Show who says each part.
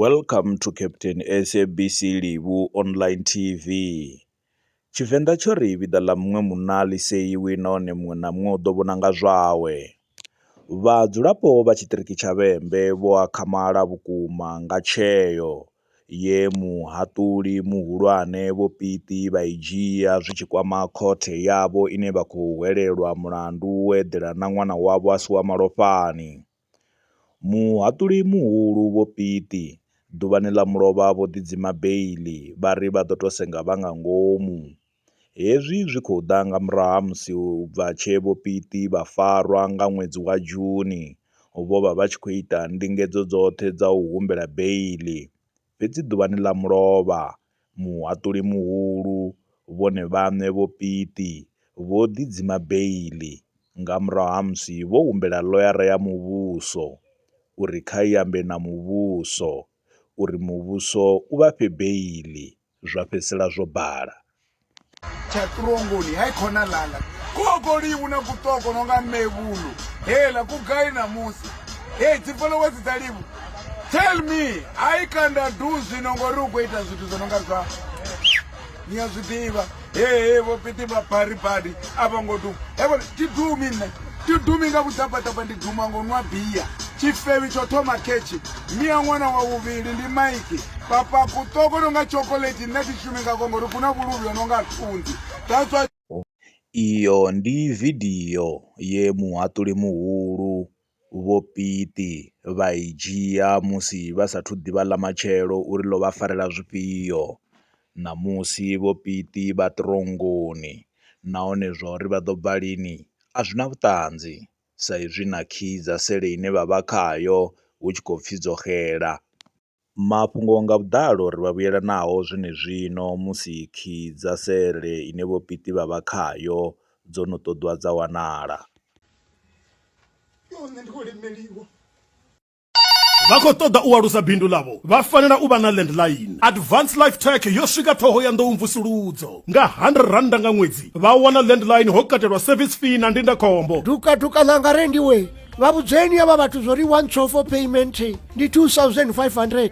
Speaker 1: Welcome to Captain SABC Livhu Online TV. Tshivenḓa tsho ri vhiḓa ḽa muṅwe munna ḽi seiwi nahone muṅwe na muṅwe u ḓo vhona nga zwawe. Vhadzulapo vha tshiṱiriki tsha Vhembe vho akhamala vhukuma nga tsheo ye muhaṱuli muhulwane Vho Piti vha i dzhia zwi tshi kwama khothe yavho ine vha khou hwelelwa mulandu wo eḓela na ṅwana wavho a si wa malofhani. Muhaṱuli muhulu Vho Piti, ḓuvhani ḽa mulovha vho ḓidzima beiḽi vha ri vha ḓo tou senga vha nga ngomu. Hezwi zwi khou ḓa nga murahu ha musi u bva tshe Vho Piti vha farwa nga ṅwedzi wa Juni, vho vha vha tshi khou ita ndingedzo dzoṱhe dza u humbela beiḽi. Fhedzi ḓuvhani ḽa mulovha, muhaṱuli muhulu, vhone vhaṋe Vho Pitti, vho ḓi dzima beiḽi nga murahu ha musi vho humbela ḽoyara ya muvhuso uri kha i ambe na muvhuso uri muvhuso u vha fhe beiḽi, zwa fhedzisela zwo bala. tsha
Speaker 2: ṱurongoni hai khona langa koko liwu na kutoko no nga mevhulu hela ku gai namusi hei dzi followers dza livu tell me ai kanda du zwino ngori u khou ita zwithu zwo no nga zwa ni a zwi ḓivha hehe vho piti vha bari badi a vho ngo duma evo ti dumi nṋe ti dumi nga vhudzabadaba ndi duma ngo nwa bia tshifewi tsho thoma khetshi ndi a ṅwana wa vhuvhili ndi maiki papa kuṱoko no nga chocolate nṋe thi shumi ngakho ngori ku na vhuluvhi ho no nga thunzi that's why Iyo
Speaker 1: ndi vidio ye muhaṱuli muhulu Vho Piti vha i dzhia musi vha sathu ḓivha ḽa matshelo uri ḽo vha farela zwifhio. Ṋamusi Vho Piti vha ṱirongoni nahone zwa uri vha ḓo bva lini a zwi na vhuṱanzi. sa izwi na khiyi dza sele ine vha vha khayo hu tshi khou pfi dzo xela. Mafhungo nga vhuḓalo ri vha vhuyela nao zwenezwino musi khiyi dza sele ine Vho Piti vha vha khayo dzo no ṱoḓwa dza wanala.
Speaker 3: vha khou ṱoḓa u alusa bindu ḽavho vha fanela u vha na landline advance life tech yo swika ṱhoho ya nḓou mvusuludzo nga 100 randa nga ṅwedzi vha wana landline ho katelwa service fee na ndindakhombo dukaduka ḽanga
Speaker 4: rendiwe vha vhudzeni ya vha vhathu zwo ri one for payment ndi 2500